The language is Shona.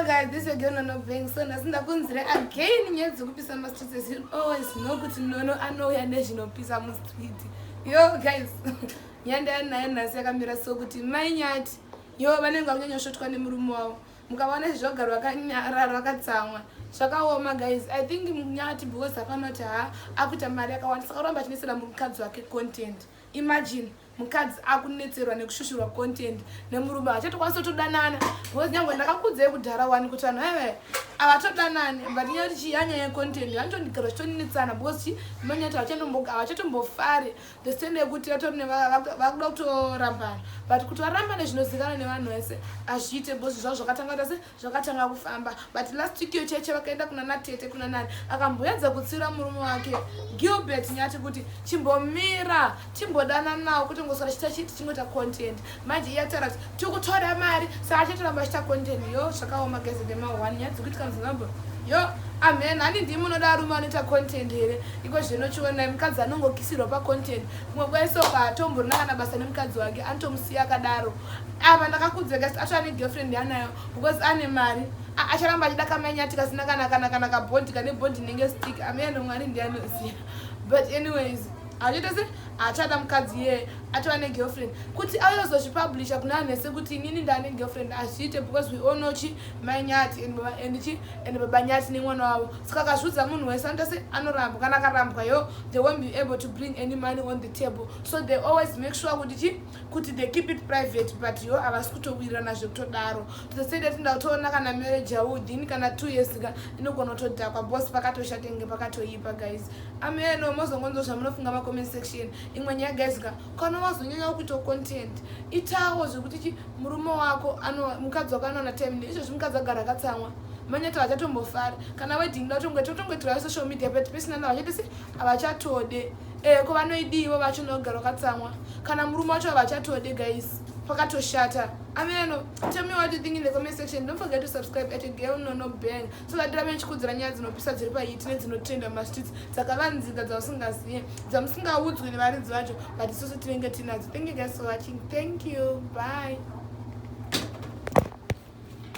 guys this again nono bang so nhasi ndakunzira again nyaya dzekupisa mastreet as you always know kuti nono anouya nezvinopisa mustreet yo guys nyaya ndayanayo nhasi yakamira so kuti mai nyati yo vanenge vakunyanyosvotwa nemurume wavo mukavaona izvi zvagara vakanyarara vakatsamwa zvakaoma guys i think nyati because hapana kuti ha akuita mari yakawandisa oramba achinesera mukadzi wake content imagine mukadzi akunetserwa nekushushurwa content nemurume achatokwanisa todanana because nyange ndakakudzei kudhara wani kuti vanhu eve avatodanani but nyaya kuti chiyanya yecontent vanotondigara zvitonetsana because chi manyati avachatombofari the stand yekuti vatori vakuda kutorambana but kuti varambane zvinozikana nevanhu vese azviite because zvavo zvakatanga kuti asi zvakatanga kufamba but last week iyo cheche vakaenda kuna natete kuna nani akamboedza kutsiura murume wake gilbert nyati kuti chimbomira timbodana nawo kuti ngosara chita chiti chingoita content manje iye ataura kuti tikutora mari saka achatoramba achita content yo zvakaoma geze dema one nyadzi kuitika muzimbabwe yo amen hani ndimi unoda arume anoita content here iko zvino chionai mukadzi anongokisirwa pacontent kumwe kwaiso paatomborina kana basa nemukadzi wake anotomusiya akadaro apa ndakakudza kasi acho ane girlfriend yanayo because ane mari acharamba achida kamanyati kasina kana kana kana kabondi kane bondi inenge stick ameno mwari ndianoziva but anyways achitese achada mukadzi yeye atova ne girlfriend kuti ayozozvipublisha kuna anhese kuti inini ndane girlfriend azviite because we all know chi mai nyati and chi and baba nyati nemwana wavo saka akazviudza munhu wese anotese anorambwa kana akarambwa yo they won't be able to bring any money on the table so they always make sure kuti chi kuti they keep it private but yo havasi kutowirirana zvekutodaro toseda tinda kutoona kana marriage yavo within kana two years ka inogona kutodhakwa bos pakatoshate nge pakatoipa guys ameno mozongonzwa zvamunofunga macomment section imwe nyaya guys ka kana wazonyanya kuita content itawo zvekuti chi murume wako mukadzi wako anoona time ne izvozvi mukadzi agara akatsamwa manyata vachatombofara kana wedding datongoita utongoitirao social media but pesinana vachati se havachatode Eh ko vanoidii ivo vacho nogara wakatsamwa kana murume wacho havachatode guys pakatoshata ameno tell me what you think in the comment section don't forget to subscribe at a girl no no bang so that rame chikudzira nyaya dzinopisa dziri pahiti nedzinotrenda mumastreets dzakavanzika dzausingazive dzamusingaudzwi nevaridzi vacho but isusu tinenge tinadzo thank you guys for watching thank you bye